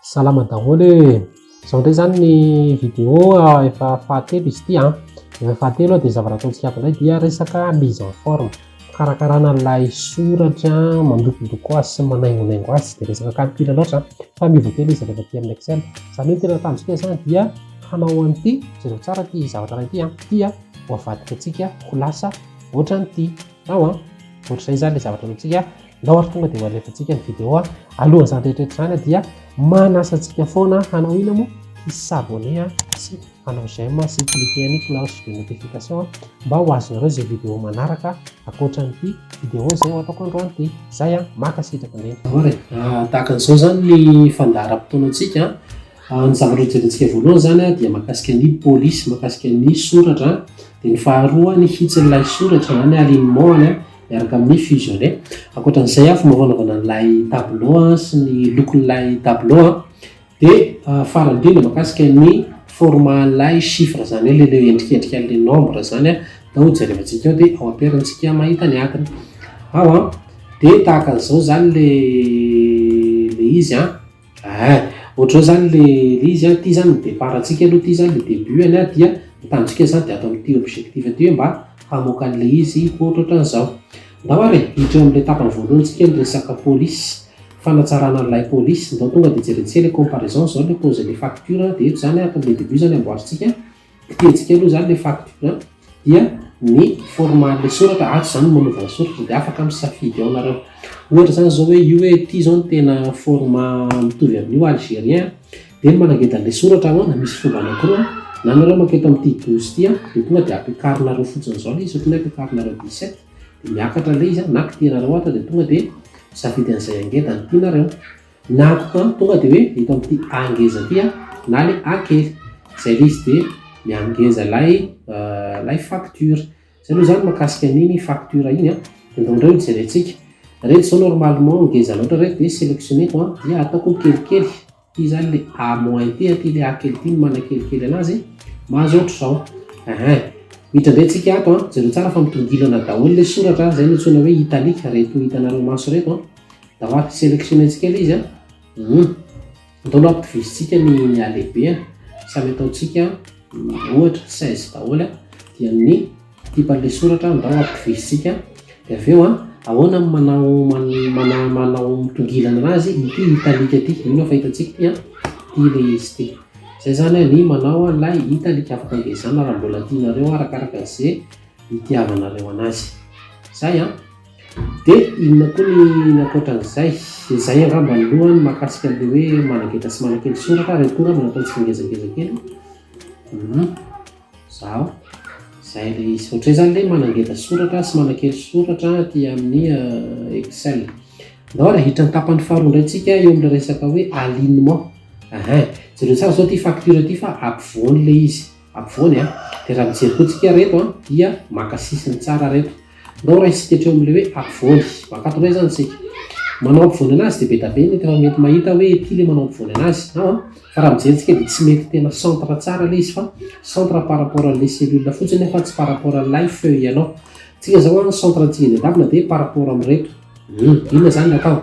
Salama daholo e! Izao indray izany ny vidéo efa fahatelo izy ity an. Efa fahatelo dia ny zavatra ataontsika ato indray dia resaka mise en forme, fikarakarana ilay soratra, mandokodoko azy sy manaingonaingo azy, tsy dia resaka calcul loatra fa miova kely izy rehefa aty amin'ny excel. Izany hoe ny tena tanjontsika izany dia hanao an'ity, jereo tsara ity zavatra iray ity an, ity an ho avadika antsika ho lasa ohatran'ity, ao an, ohatr'izay izany ilay zavatra ataontsika. Ndao ary tonga dia ho alefantsika ny vidéo a! Alohan'izany rehetra rehetra izany dia manasa antsika foana hanao inona moa? Hi s'abonner sy hanao j'aime sy cliquer ny cloche de notification mba ho azonareo izay vidéo manaraka ankoatran'ity vidéo izay ho ataoko androany ity. Izay a! Mankasitraka indrindra. Ahoana e? Tahaka an'izao izany ny fandaharam-potoanantsika a! Ny zavatra hojerentsika voalohany izany a dia mahakasika ny polisy, mahakasika ny soratra a! Dia ny faharoa ny hitsin'ilay soratra izany alignement-ny a! miaraka amin'ny fusionner. Ankoatra an'izay an, fomba fanaovana an'ilay tableau an, sy ny lokon'ilay tableau an, dia ah, farany indrindra makasika ny format an'ilay chiffre zany hoe ilay endrikendrika an'ilay nombre zany an, atao jerevantsika ao dia ampiharintsika mahita ny atiny ao an, dia tahaka an'izao zany le le izy an. Ahh! Ohatr'izao izany le le izy an, ity izany ny départ antsika aloha, ity izany le début any an, dia ny tanjontsika izany dia ato amin'ity objectif ity hoe mba hamoaka an'ilay izy hoatrohatran'izao. Ndao ary e, hiditra eo amin'ilay tapany voalohany tsika ny resaka police, fanatsarana ny lay police, ndao tonga dia jerentsika ilay comparaison izao ilay pause ilay facture dia eto izany an, ato amin'ilay début izany amboarintsika Fihetsika aloha izany ilay fact point dia ny format ilay soratra, ato izany no manaovana soratra dia afaka misafidy ao nareo. Ohatra izany izao hoe io hoe ity izao no tena format mitovy amin'io algérien dia ny manangeda an'ilay soratra ahoana, misy fomba anankiroa na ianareo maka eto amin'ity douze ity dia tonga dia ampiakarinareo fotsiny izao ilay izy, ohatra ny hoe ampiakarinareo dix sept dia miakatra ilay izy na kitihanareo ato dia tonga dia misafidy an'izay angedany tianareo. Na antoko tonga dia hoe eto amin'ity A ngeza ity na ilay A kely. Izay ilay izy dia miha ngeza ilay ilay facture. Izay aloha izany mahakasika an'iny facture iny. Dia indraindray no jerentsika. Ireto izao normalement ngeza loatra ireto dia sélectionneko dia ataoko kelikely. Ity izany ilay A moins ity, ity ilay A kely ity no manakelikely anazy. Mahazo ohatr'izao. Ehe. Miditra indray isika ato. Jereo tsara fa mitongilana daholo ilay soratra. Izay no antsoina hoe italique ireto hitanareo maso ireto. Raha maty sélectionner-ntsika ilay izy an! Humm! Ntaolo ampitovizitsika ny ny halehibeany, samy ataontsika ohatra seize daholo an! Dia ny tipan'ilay soratra ndao ampitovizitsika dia avy eo an! Ahoana ny manao mana manao mitongilana anazy? Ity italique ity, mino aho fa hitantsika ity an! Ity ilay izy ity. Izay izany ny manao an'ilay italique, afaka engaezana raha mbola tianareo arakaraka izay itiavanareo anazy. Izay an! Dia inona koa ny ankoatran'izay? Izay angamba ny lohany mahakasika an'ilay hoe manangetra sy manakely soratra ary akory angamba natao tsingezangeza kely e. Hum, izaho. Izay ilay izy. Ohatran'ny izany ilay manangetra soratra sy manakely soratra aty amin'ny euh, Excel. Ndao ary ahiditra ny tapany faharoa indray tsika eo amin'ilay resaka hoe alignement. Ahin. Jereo tsara izao ity facture ity fa ampovoany ilay izy. Ampovoany a! Dia raha mijery koa tsika ary eto a! Dia maka sisiny tsara ary eto. Ndao raha isika hatreo amin'ilay hoe ampovoany. Mankatona eo izany isika. Manao ampovoany anazy dia be da be ny efa mety mahita hoe ety ilay manao ampovoany anazy. Ao a! Fa raha mijery tsika dia tsy mety tena centre tsara ilay izy fa centre par rapport an'ilay cellule fotsiny fa tsy par rapport an'ilay feuille anao. Tsika izao a ny centre antsika dian-davona dia par rapport amin'ireto. Hum! Inona izany no atao?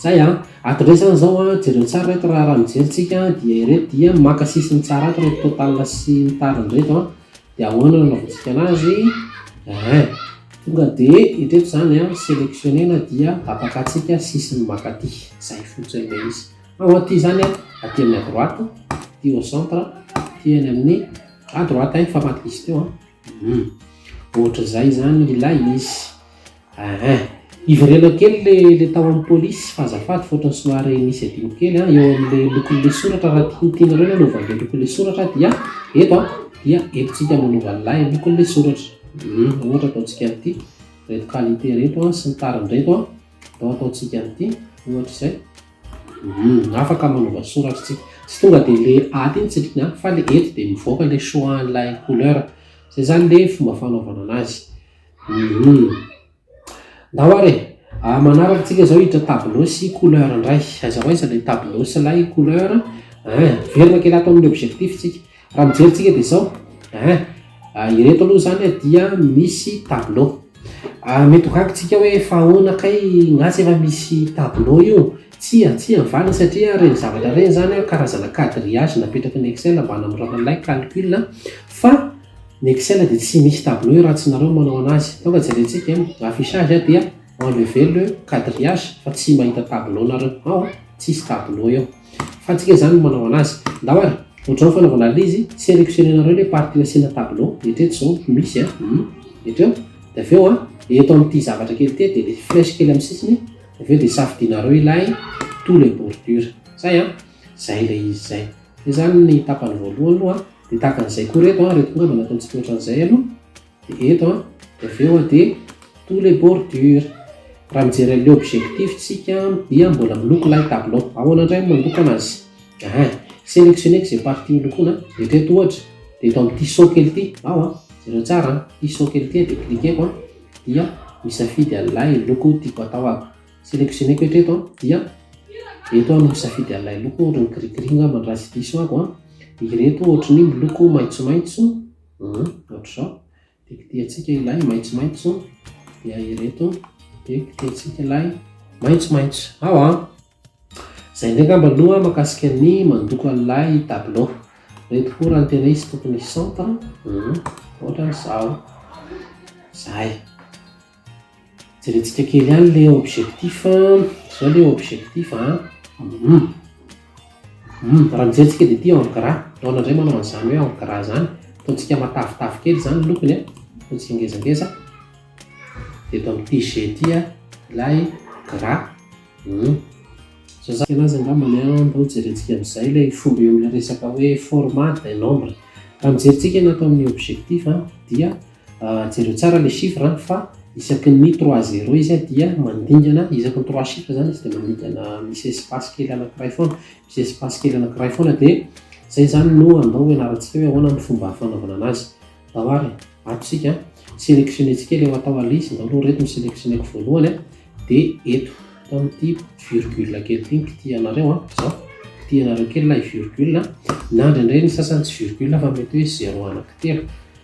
Izay an! Ato indray izany izao an, jereo tsara ireto raha raha mijery tsika dia ireto dia maka sisiny tsara ato ireto total sy ny tariny ireto an, dia ahoana no anaovantsika an'azy? Eeh, tonga dia ireto izany an, selectionner na dia tapakatsika sisiny makaty, izay fotsiny ilay izy. Ao aty izany an, aty amin'ny à droite, aty au centre, aty eny amin'ny à droite fa maty diso teo an, hum, ohatr'izay izany ilay izy. Aa! Ivereno kely le le tao am polisy fa azafady fa otrany somary misy adino kely an, eo am le lokon le soratra raha ti tianareo ny hanova anle lokon le soratra dia eto an, dia eto tsika no hanova anlay lokon le soratra, uhm ohatra ataontsika an'ity, reto qualité reto an sy ny tariny reto an, atao ataontsika an'ity ohatra izay, uhm afaka manova soratra tsika, tsy tonga de le aty ny tsindriny an, fa le eto de mivoaka le choix anlay couleur, zay zany le fomba fanaovana anazy. Humm. Ndao ary e! A manaraka tsika zao hiditra tableau sy couleur ndray. Aiza ho aiza lay tableau sy lay couleur a? Miverina kely ato amin'ny objectif tsika. Raha mijery tsika dia zao a. Ireto aloha zany dia misy tableau. Mety ho gaga tsika hoe fa ahoana kay ngah tsy efa misy tableau io? Tsia, tsia ny valiny satria ireny zavatra ireny zany karazana quadrillage napetraky ny excel mba hanamorana an'ilay calcul fa. Ny Excel dia tsy misy tableau io raha tsy nareo no manao anazy. Tonga dia jerentsika eo, ny affichage a dia enlever le quadrillage fa tsy mahita tableau nareo ao a, tsisy tableau eo. Fa antsika izany no manao anazy. Ndao ary, ohatrao ny fanaovana an'lizy, selectionner nareo le partie nasiana tableau, eritreto zao ho misy a, humm, eto eo, dia avy eo a, eto amin'ity zavatra kely ity a, dia le flèche kely amin'ny sisiny, dia avy eo dia safidinareo ilay tous les bordures. Zay a, zay ilay izy zay. Zay zany ny tapany voalohany aloha a. Dia tahaka an'izay koa ireto an, ireto koa angamba natao tsy tohatra an'izay aloha. Dia eto an, dia avy eo an, dia tous les bordures. Raha mijery an'ilay objectif tsika dia mbola miloko ilay tableau. Ahoana indray no mandoko an'azy? Aha, selectionnez izay partie holokoina. Eritrereto ohatra, dia eto amin'ity saut kely ity, ao an, jereo tsara an, ity saut kely ity dia cliquer-ko an, dia misafidy an'ilay loko tiako hatao aho. Sélectionner-ko hatreto an, dia eto aho no misafidy an'ilay loko ohatra ny gris gris angamba no raha tsy diso aho an, dia ireto ohatra ny miloko maitsomaitso, ohatr'izao, dia kitihantsika ilay maitsomaitso, dia ireto, dia kitihantsika ilay maitsomaitso, ao an! Izay indray angamba aloha makasika ny mandoko an'ilay tableau, ireto koa raha ny tena izy tokony centre, ohatra izao, izay. Jerentsika kely ihany le objectif a, zao le objectif a, hum hum raha mijery tsika dia ity en gras, Dona indray manao an'izany hoe en gras izany, ataontsika matavitavy kely izany ny lokony a, ataontsika ngezangeza, dia eto amin'ny TG ity a, ilay gras, hum. Zao zany anazy angambany a, ndao jerentsika amin'izay ilay fomba eo amin'ilay resaka hoe format d'un nombre, raha mijery tsika ny ato amin'ny objectif a dia. Jereo tsara le chiffre an, fa isaky ny trois zero izy dia mandingana, isaky ny trois chiffres zany izy dia mandingana misy espace kely anakiray foana, misy espace kely anakiray foana dia zay zany no andao ho ianarantsika hoe ahoana ny fomba fanaovana anazy. Andao ary ato isika an, selectionner-tsika ilay atao alice, andao aloha ireto no selectionner-ko voalohany an, dia eto atao ity virgule kely ity no kitihanareo an, zao, kitihanareo kely ilay virgule, na indraindray ny sasany tsy virgule fa mety hoe zero anakitelo,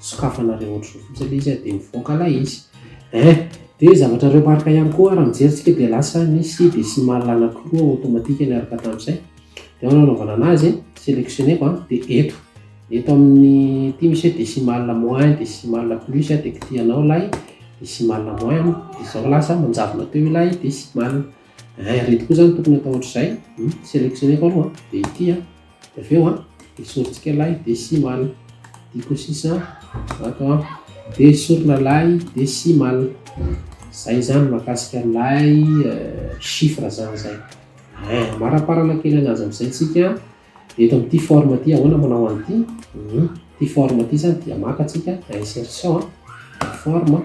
sokafana reo otrz zao fotsiny le izy dia mivoaka lay izy eh dia zavatra reo marque ihany koa raha mijery tsika dia lasa misy decimal anankiroa automatique miaraka tamizay dia ao no anaovana anazy eh selectioneko an dia eto eto amin'ny ity misy hoe decimal moins decimal plus dia kitihanao lay decimal moins dia zao lasa manjavona teo ilay decimal eh reto koa zany tokony atao ohatr'izay selectioneko aloha dia ity an Avy eo esorintsika lay desimal. Diko sisa ato dia esorina lay desimal. Izay izany mahakasika lay chiffre izany izay. Eh, maraparana kely an'azy amin'izay tsika. Eto amin'ity forme ity ahoana manao an'ity? Mhm. Ity forme ity izany dia maka tsika insertion forme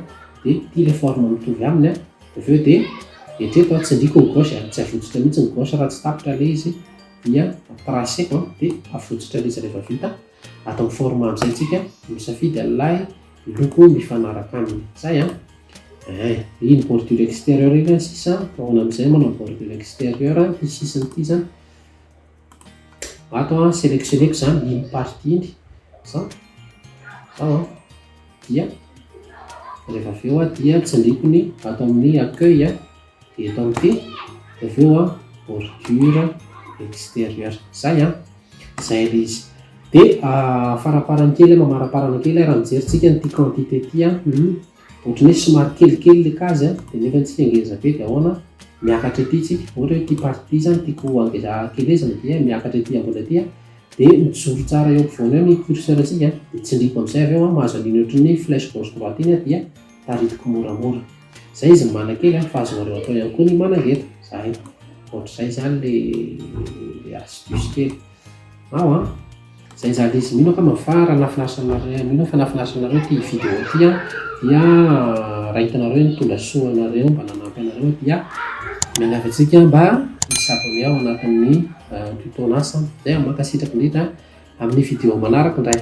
dia ity ilay forme mitovy aminy. Avy eo dia etreto tsindriko ny gauche, tsy avotsotra mihitsy ny gauche raha tsy tapitra ilay izy. dia tracer dia avotsitra mihitsy rehefa vita atao format amizay tsika misafidy an'ilay loko mifanaraka aminy zay an eh iny bordure extérieur iny an sisa ahoana amizay manao bordure extérieur ity sisiny ity zany ato an selectionneko zany iny partie iny zao zao an dia rehefa avy eo dia tsindriko ny ato amin'ny accueil an eto amin'ity, dia avy eo bordure extérieure izay an, izay ilay izy. Dia faraparany kely, mamaraparana kely raha mijery tsika an'ity quantité ity an, ohatran'ny hoe somary kelikely ilay cas dia nefa antsika ngeza be dia ahoana, miakatra ety tsika, ohatra hoe ity partie ity izany tiako hakelezina dia miakatra ety ambony ety an, dia mijoro tsara eo ampovoany eo ny curseur-tsika dia tsindriako amin'izay avy eo an, mahazo an'iny ohatran'ny hoe flèche gauche droite iny aho dia. Taritiko moramora. Zay izy mana kely an, fa azonareo atao ihany koa ny mananga eto. Zay. Ohatr'izay zany le le astuce kely. Ao an. Zay zany izy. Mino aho kama fa raha nafinaritranareo, mino aho fa nafinaritranareo ity vidéo ity an, dia raha hitanareo ny tonga soa anareo mba nanampy anareo dia miangavy antsika mba hi s'abonner ao anatin'ny tutonas. Zay an, mankasitraka indrindra an. Amin'ny vidéo manaraka indray.